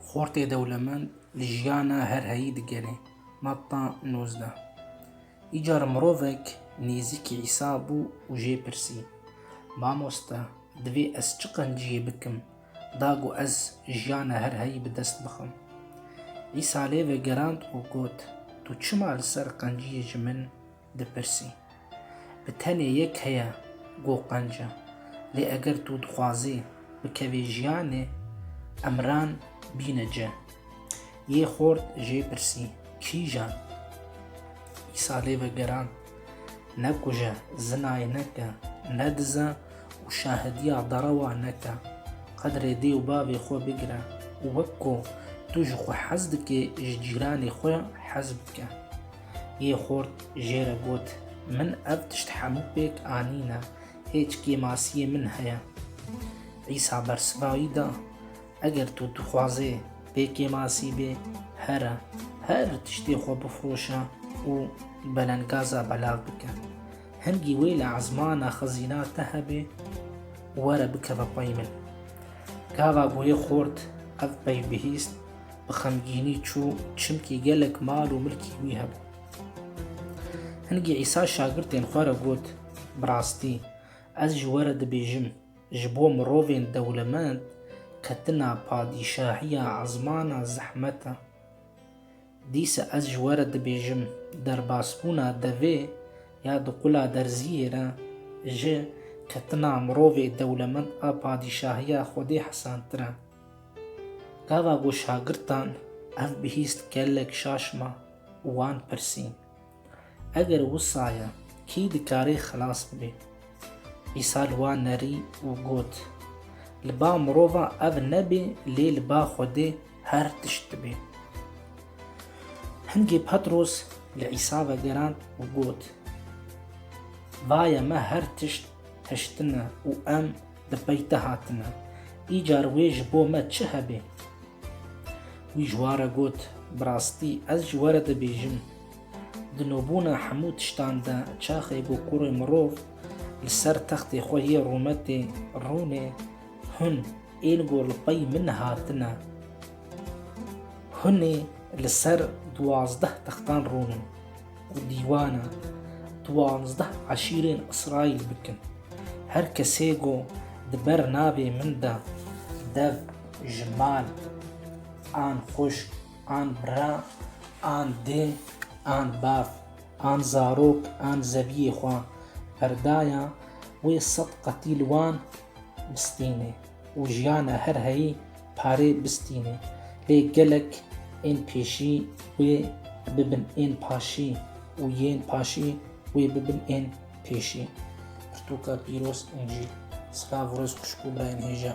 Xortê dewlemend li jiyana her heyî digerê. Matta nozdeh Îcar mirovek nêzîkî Îsa bû û jê pirsî, Mamoste, divê ez çi qenciyê bikim da ku ez jiyana her heyî bi dest bixim? Îsa lê vegerand û got, Tu çima li ser qenciyê ji min dipirsî. Bi tenê yek heye ku qenc e. Lê eger tu dixwazî bikevî jiyanê, emran bîne ci. Yê xort jê pirsî, Kîjan? Îsa lê vegerand, Ne kuje, zinayê neke, ne dize û şahidiya derewa neke. Qedrê dê û bavê xwe bigire û wek ku tu ji xwe hez dikê ji cîranê xwe hez bike. yê xort jê re got, Min ev tişt hemû pêk anîne, hêç kêmasiyê min heye? Îsa bersiva wî da, Eger tu dixwazê pê kêmasî bê, here, her tiştê xwe bifroşe û belenggaza belav bike. Hingî wê li ezmana xizîna te hebe û were bikeve xwe yê min. Gava got yê xort, Ev peyv bihîst, bi xemgînî çû çimkî gelek mal û milkî wî hebû. Hingî Îsa şagirtên xwe re got, Bi rastî, ez ji we re dibêjim, ji bo mirovên dewlemend ketina padîşahiya ezmana zehmet e. Dîsa ez ji we re dibêjim, derbasbûna devê ya di qula derziyê re ji ketina mirovê dewlemend a padîşahiya Xwedê hesantir e. Gava ku şagirtan ev bihîst gelek şaş ma û wan pirsî, Eger wisa ye, kî dikarê xilas bibê? Îsa li wan nerî û got, Li ba mirovan ev nebê lê li ba Xwedê her tişt dibê. Hingê Petros li Îsa vegerand û got, Vaye me her tişt hiştine û em Di peyte hatine. Îcar wê ji bo me çi hebê? Wî ji ware got, Bi rastî ez ji were dibêjim, di nobûna hemû tiştan de çaxê ku kurê mirov li ser textê xwe yê rûmetê rûnê, hûn ên ku li pey min hatine, hûnê li ser duwazdeh textan rûnin. ku dîwana duwazdeh eşîrên Îsraîl bikin. Her kesê ku di ber navê min de dev ji mal an xwişk an bira an dê an bav an zarok an zeviyê xwe perdaya wê sed qetî li wan bistînê. û jiyana her heyî parê bistîne lê gelek ên pêşî wê bibin ên paşî û yên paşî wê bibin ên pêşî. Pirtûka pîroz Încîl. Silav û rêz xwişk û birayên hêja.